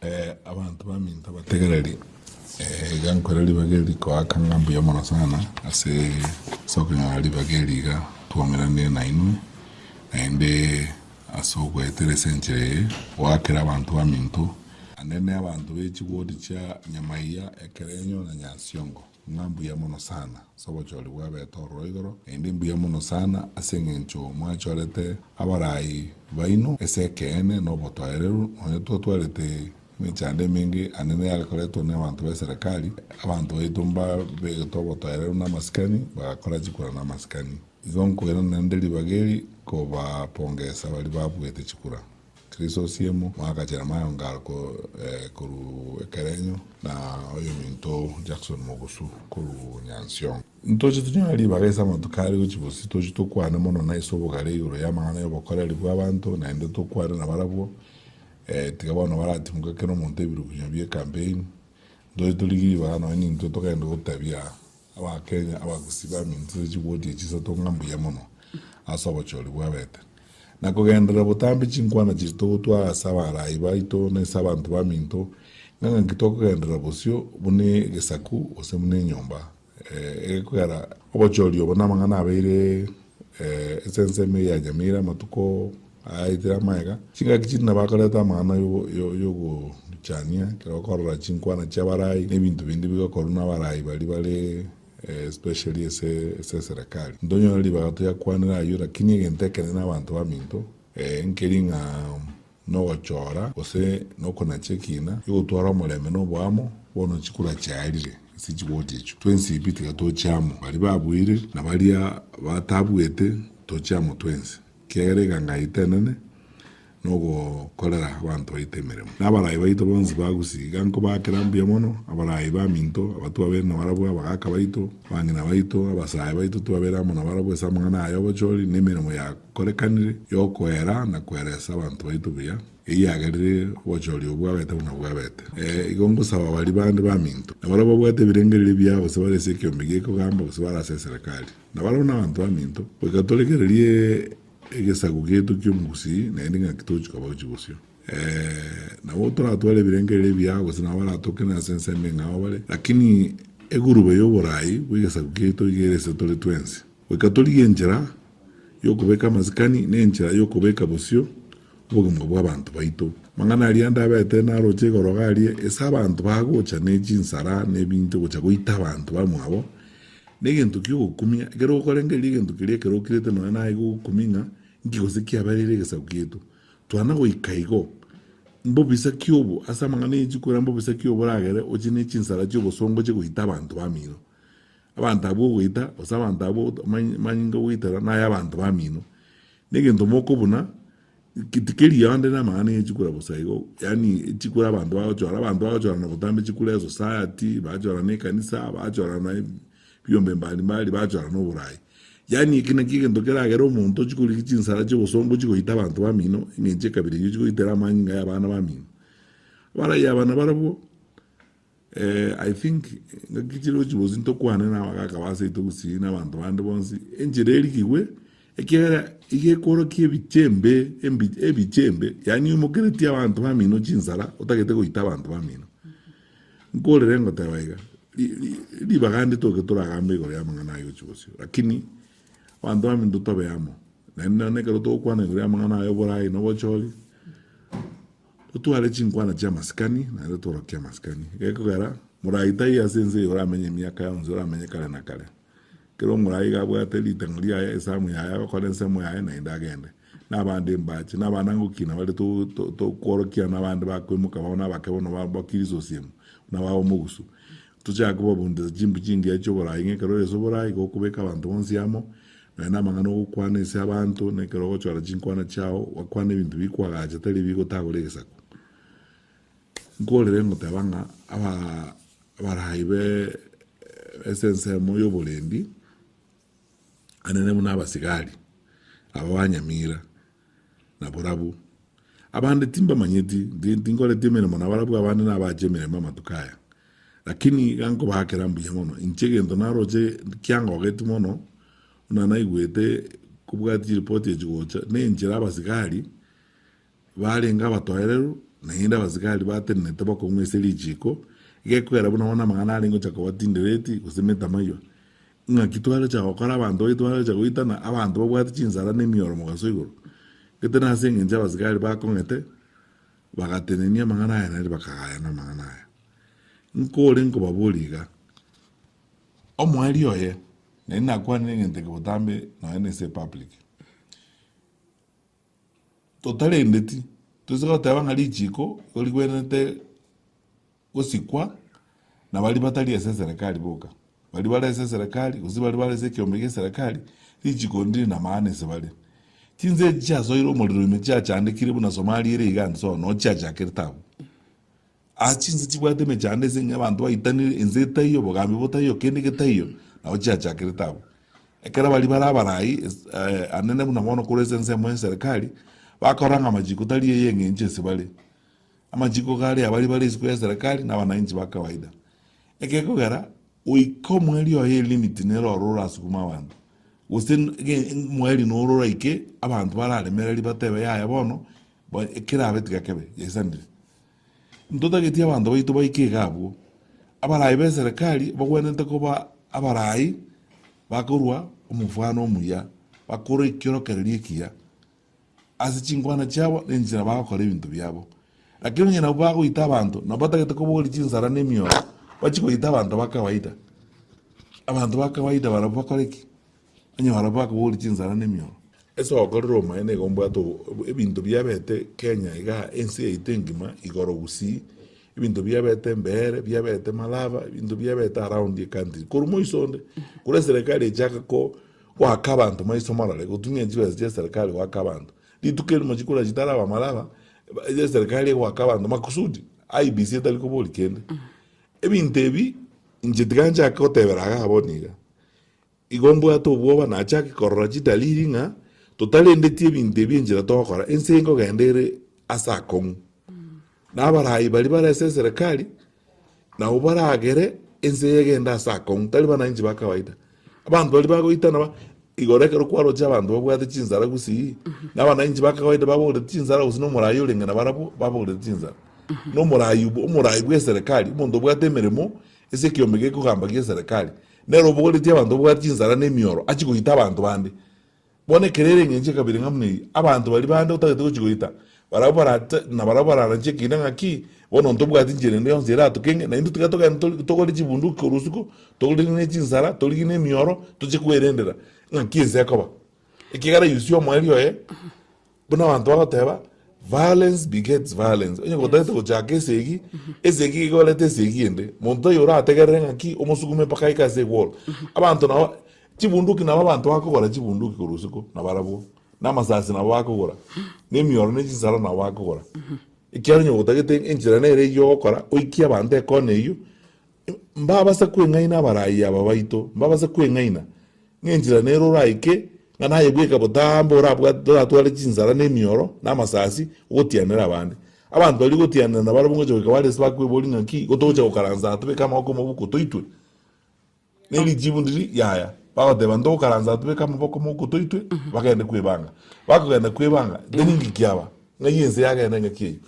Abanto baminto abategereri, iga nkore ribaga eri rikoaka ng'a mbuya mono sana ase okonyora ribaga eri iga twaumeranirie nainwe, naende ase ogoetera ase enchera eye goakera abanto baminto naende abanto be chigori chia nyama eya ekero enyora nyasiongo. Ng'a mbuya mono sana ase obochori bw'abeete ororo igoro, naende mbuya mono sana ase engencho mwachorete abarai baino ase ekeene na obotoereru, nonya twatwarete emechando emenge ande neyare koretwa n'abanto b'eserekari, abanto baito mbabegetwe obotoereru namasikani, bagakora chikura namasikani. Igo nkoirana naende ribaga eri kobapongesa baria babuete chikura. Krisosimu, mwaka Jeremiah Ongaro korwa Ekerenyo, na oyominto Jackson Mogusu korwa Nyansiongo. Ntoche tonyore ribaga ase amatuko aria gochia bosio, tochie tokwane mono na ase obogare igoro y'amang'ana y'obokoreri bw'abanto, naende tokwane nabarabwo, tiga bono baratimoke kera omonto ebirukunywa bie campaign. Ntoche torigie ribaga nonya nintwe togende gotebia Abakenya abagusii bamintiire chigoti echi isato ng'a mbuya mono ase obochori bwabete. Na kogenderera botambe chinkwana chiria togotwara ase abaraai baito na ase abanto baminto, ng'a ng'aki tokogenderera bosio buna egesaku gose buna enyomba egekogera obochori obo namang'ana abeire esensemo eyanyamire amatuko Aetire amagega. Chingaki chinde nabakorete amang'ana y'ogochania ekero bakorora chinkwana chi'abarai na ebinto binde bigokorwa n'abarai baria bare especially ase eserekari. Ntonyore ribaga toyakwanera ayio lakini egento ekenene abanto baminto nkeri ng'a nogochora gose nokonacha ekina egotwara omorembe na oboamo bono chikura chiarire ase chigoti echio twensi pi tiga tochia amo baria babuire na baria batabuete tochie amo twensi. Ekiagera egekango yaito enene nogokorera abanto baito emeremo. Na abarai baito bonsi ba Gusii iga nkobaakera mbuya mono, abarai baminto, abatwabeire nabarabwo, abagaaka baito, abang'ina baito, abasae baito twabeire amo nabarabwo ase amang'ana aya obochori, nemeremo yakorekanire yokoera na koeresa abanto baito buya, eyio yagerire obochori obwo bwabete buna bwabete. Ee, igo ngosaba baria bande baminto, nabarabwo babwate ebirengererio biao gose bare ase ekeombe gi'ekogamba gose bare ase eserekari, na barabwo nabanto baminto, goika torekererie egesaku giaito ki'omogusii, naende ng'aki togochia kobao chibosio? Ee, nabo toratware ebirengererio ebiao, gose nabo baratokenere ase ensemo eng'ao bare, lakini eguruba y'oboraai bw'egesaku kiaito iga ere ase tore twensi. Goika torigie enchera y'okobeka amasikani, na enchera y'okobeka bosio obogima bw'abanto baito. Amang'ana aria ande abete naroche igoro iga aria, ase abanto bagocha ne chinsara, ne ebinto gocha goita abanto bamwabo, Negento ki'ogokumia, ekero gokorengereria egento keria ekero okirete nonya naye gogokumia ng'a, Inki gose kiabereire egesaku giaito? Twana goika igo, mbobisa ki obo, ase amang'ana ye chikwera, mbobisa ki obo oragere oche ne chinsara chi'obosongo oche goita abanto bamino? Abanto abwo ogoita, gose abanto abwo amanyinga ogoitera, naye abanto bamino. Negento mokobuna, Gete keria ande namang'ana ye chikura bosa igo, yaani chikura abanto bagochora, abanto bagochorana gotambe chikura esociety, bachorana ekanisa, bachorana ebiombe mbari mbari, bachorana oborai. Yaani eke nakio egento keragere omonto chikorigia chinsara chi'obosongo chigoita abanto bamino, eng'encho ekabira eyio chigoitera amanyinga y'abana bamino. Abaraia abana barabwo. Eh, I think ngaki chire ochi bosi ntokwane na abagaka ba seito gusii na abanto bande bonsi, enchera erikigwe, ekiagera iga ekworokia ebichembe, embi- ebichembe, yaani oimokeretie abanto bamino chinsara, otagete goita abanto bamino. Nkorere ngoteba iga, ri- ri- ribaga nditoke toragambe igoro y'amang'ana aye ochi bosio, lakini abanto bamino totobe amo, naende nonye ekero togokwana igoro y'amang'ana aye oboraai na obochori, Totware chinkwana chi'amasikani, naende tworokie amasikani. Gekogera, morai taiyo ase ense eye oramenye emiaka yonsi, oramenye kare na kare. Kera omorai iga abwate ritang'o riaye, esamu yaye, agakora ensemo yaye, naende agende. Nabande embache, nabanangoki ina bare to- to- tokworokiana, abande bakwemoka, babo nabake bono, ba- bakirisosiemu, buna baba omogusu. Tochake kobabundisa chimbu chingiya chi'oboraai ng'a ekero ore ase oboraai igo okobeka abanto bonsi amo, nonya namang'ana ogokwana ase abanto, na ekero ogochora chinkwana chiao gwakwana ebinto bikwagacha tari ebi gotagora egesaku. Nkorere ngoteba ng'a abaraa abarai be ase ensemo y'oborendi anene buna abasigari aba ba Nyamira, na borabu. Abande timbamanyeti, ndi tinkoreti emeremo na barabwo abande nabache emeremo amatuko aya. Lakini iga nkobaakera mbuya mono, inche egento naroche kiangogeti mono, buna naigwete kobwati chiripoti echi gocha, nenchera abasigari Barenge abatoereru, naende abasigari batenenete bakong'wa ase richiiko, egekwera buna bono amang'ana arenge gocha koba tindireti, gose emetamaiywa. Ing'aki twarocha gokora abanto baito barocha goitana, abanto babwate chinsara na emioro mogaso igoro? Gete nase engencho abasigari bakong'ete, bagatenenia amang'ana aya naende bakagayana amang'ana aya. Nkore nkobaboria iga, omoerio oye, naende nakwanire egento eke botambe nonya nase epublic, Totarendeti, toise goteba ng'a richiiko igo rigwenerete gosikwa na baria batari ase eserekari boka. Baria bare ase eserekari, gose baria bare ase ekeombe gi'eserekari, richiiko ndiri namaana ase bare. Chinsa echi chiasoire omorero ime chiachandekire buna Somalia ere iga inse oo, noo chiachakerete abwo. Aa chinse chibwate emechando ase eng'encho abanto baitanire, ense etaiyo, obogambi botaiyo, kende getaiyo, nabo chiachakerete abwo. Ekero baria bare abarai, es- eh, anene buna bono korwa ase ense emo y'eserekari, bakarora ng'a amachiko tari ay'eng'encho ase bare. Amachiko kare abari bare isiko y'eserekari na abanainchi ba kawaida. Ekegokera, goika omweri oye elimit nere oro orasukume abanto, gose n- ge- omweri noro oraike abanto bararemereri batebe yaya bono, ba- ekerabe tiga kebe, yaisanire. Intotageti abanto baito baike iga abwo, abaraai b'eserekari bagwenerete koba abaraai bakorua omofwano omuya, bakorua ekiorokererio ekiya ase chinkwana chiabo na enchera bagokora ebinto biabo. Lakini onye nabwo bagoita abanto, nabo batagete kobogoria chinsara na emioyo, bachie goita abanto ba kawaida. Abanto ba kawaida barabwo bakore ki? Onye barabwo bakabori chinsara nemioro. Ase ogokorera omoyo nigo ombwate obo ebinto biabete Kenya iga ense yaito engima igoro gusii ebinto biabete Mbeere biabete Malaba ebinto biabete around ecountry korwa moiso onde korwa eserekari echake ko goaka abanto maiso morore gotumia chibesa chia eserekari goaka abanto rituko erimo chikora chitaraba Malaba eeh eserekari egoaka abanto makusudi IEBC etari kobori kende ebinto ebi inche tiga nchake gotebera iga bono iga Igo mbwate obwoba nachake korora chidaliri ng'a totarendeti ebinto ebi enchera togokora ense nkogenda ere ase akong'u, na abaraai baria bare ase eserekari nabwo baragere ense eye egende ase akong'u tari bananchi ba kawaida. Abanto baria bagoitana ba igoro ekero kwaroche abanto babwate chinsara gusii, na abananchi ba kawaida baboreti chinsara gose na omoraai orenge nabarabwo baboreti chinsara. Na omoraai obo omoraai bwa eserekari omonto obwate emeremo Ase ekiombe gekogamba gi'eserekari, nere obogoretie abanto babwate chinsara na emioro achie goita abanto bande. Bono ekero ere engencho ya kabere ng'a buna eyio, abanto baria bande otagete gochia goita, barabwo barate, na barabwo bararanche ekiina ng'aki, Bono onto tobwati enchera ende yonsi eratokeng'e, na intwe tiga togende tori- togore chibunduki korwa usuku, torigie ne chinsara, torigie ne emioro, tochie kwerendera ng'aki ense ekoba. Ekiagera Yosia omoerio oye, Buna abanto bagoteba, Violence begets violence, onye gotagete gochaka esegi, esegi egeorete esegi ende, monto taiyo orategerere ng'aki omosugume mpaka aike ase egworo. Abanto nabo, chibunduki nabo abanto bakogora chibunduki korwa isiko, nabarabwo, na amasasi nabo bakogora, na emioro ne chinsara nabo bakogora. Ekiagera onye gotagete enchera nere eyio ogokora, oikie abanto ekona eyio, Mbabase kweng'aina abarayia aba baito, mbabase kweng'aina, ng'a enchera nere oraike, ng'a nayebweke botambe orabwate, toratware chinsara na emioro, na amasasi, ogotianera abande. Abanto baria ogotianera na barabwo ngocha goika bare ase bakweboria ng'a ki, igo togocha gokaransa aa tobeke amaboko mobuko toitwe? Ne richibu ndiri, Yaya. Bagoteba, ntogokaransa aa tobeke amaboko mobuko toitwe, bagende kwebanga. Bakogenda kwebanga, then ng'iki aba, ng'ai ense yagenda eng'aki eyio.